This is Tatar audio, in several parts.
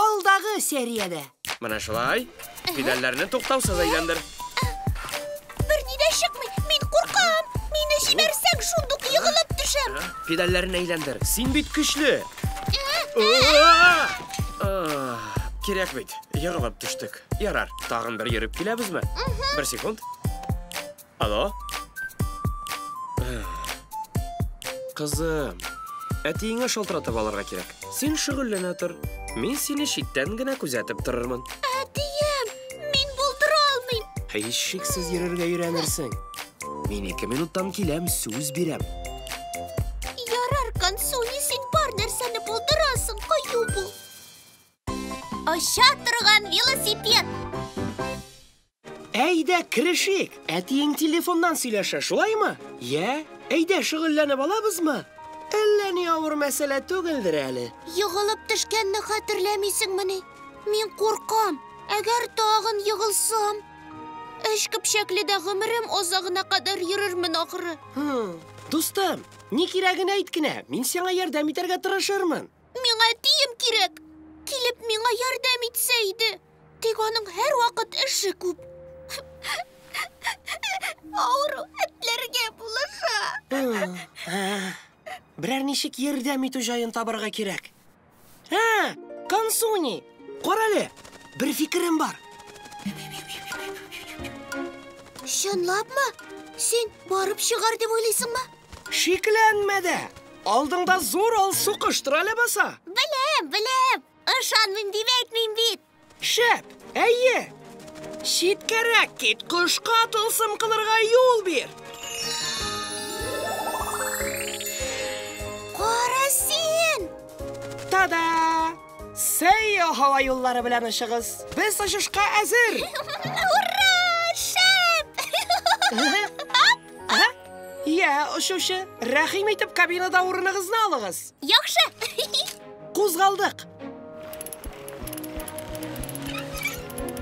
Алдагы сериядә. Менә шулай. Педальләрне туктаусыз әйләндер. Берни дә чыкмый. Мин куркам. Мине җибәрсәң, шундук егылып төшәм. Педальләрен әйләндер. Син бит көчле. Кирәк бит. Егылып төштек. Ярар, тагын бер йөреп киләбезме? Бер секунд. Алло? Кызым, әтиеңә шалтыратып алырга кирәк. Син шөгыльләнә тор. Мин сине читтән генә күзәтеп торырмын. Әтием, мин булдыра алмыйм. Һичшиксез йөрергә өйрәнерсең. Мин ике минуттан киләм, сүз бирәм. Ярар, Консуни, син бар нәрсәне булдырасың, кыю бул. Оча торган велосипед. Әйдә, керешик! Әтиең телефоннан сөйләшә, шулаймы? Йә, әйдә, шөгыльләнеп алабызмы? Әллә ни авыр мәсьәлә түгелдер әле. Егылып төшкәнне хәтерләмисеңмени? Мин куркам, әгәр тагын егылсам, өч көпчәкледә гомерем азагына кадәр йөрермен, ахры. Хм. Дустым, ни кирәген әйт кенә, мин сиңа ярдәм итәргә тырышырмын. Миңа әтием кирәк. Килеп миңа ярдәм итсә иде. Тик аның һәрвакыт эше күп. Авыру этләргә булыша. Берәр ничек ярдәм итү җаен табарга кирәк. Ә, Кансуни, карале, бер фикерем бар. Чынлапмы? Син барып чыгар дип уйлыйсыңмы? Шикләнмә дә! Алдыңда зур алсу коштыр әле баса. Беләм, беләм! Ышанмыйм дип әйтмим бит! Шәп! Әйе! Читкәрәк кит, кошка тылсым кылырга юл бир! Кара син! Та-да! Сәйо һава юллары белән очыгыз! Без очышка әзер! Ура! Шәп! Йә, очучы, рәхим итеп кабинада урыныгызны алыгыз. Яхшы. Кузгалдык.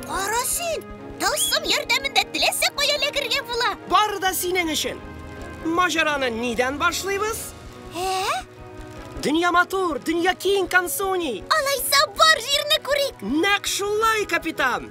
Кара син, тылсым ярдәмендә теләсә кая эләгергә була. Бары да синең өчен. Маҗараны нидән башлыйбыз? Ә? Дөнья матур, дөнья киң, Кансуни. Алайса бар җирне күрик. Нәкъ шулай, капитан.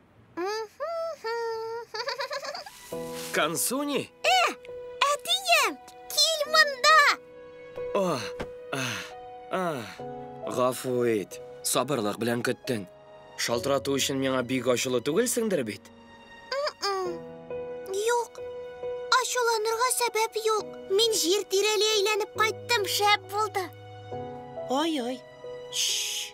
Консуни? Э, әтием, кил монда! О, а, а, гафу ит. Сабырлык белән көттең. Шалтырату өчен миңа бик ачулы түгелсеңдер бит? Юк. Ачуланырга сәбәп юк. Мин җир тирәли әйләнеп кайттым, шәп булды. Ой-ой. Шш.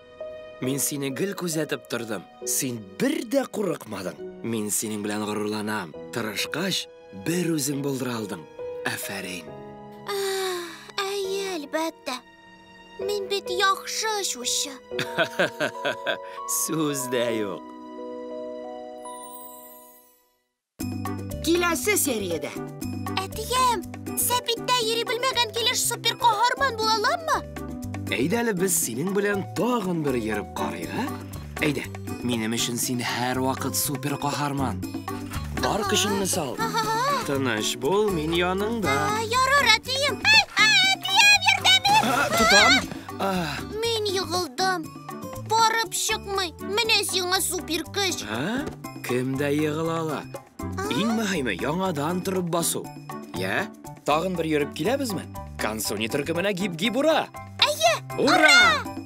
Мин сине гел күзәтеп тордым. Син бер дә курыкмадың. Мин синең белән горурланам. Тырышкач, бер үзең булдыра алдың. Афәрин. Әйе, әлбәттә. Мин бит яхшы очучы. Сүз дә юк. Киләсе сериядә. Әтием, сәпиттә йөри белмәгән килеш супер каһарман була аламмы? Әйдә әле без синең белән тагын бер йөреп карыйк, ә? Әйдә, минем өчен син һәрвакыт супер каһарман. Бар көчеңне сал. Тыныч бул, мин яныңда. Ярар, әтием. Әтием, ярдәм ит! Тотам. Мин егылдым. Барып чыкмый. Менә сиңа супер көч. Ә? Кем дә егыла ала. Иң мөһиме яңадан торып басу. Я? Тагын бер йөреп киләбезме? Консуни төркеменә гип-гип ура! Әйе! Ура! ура!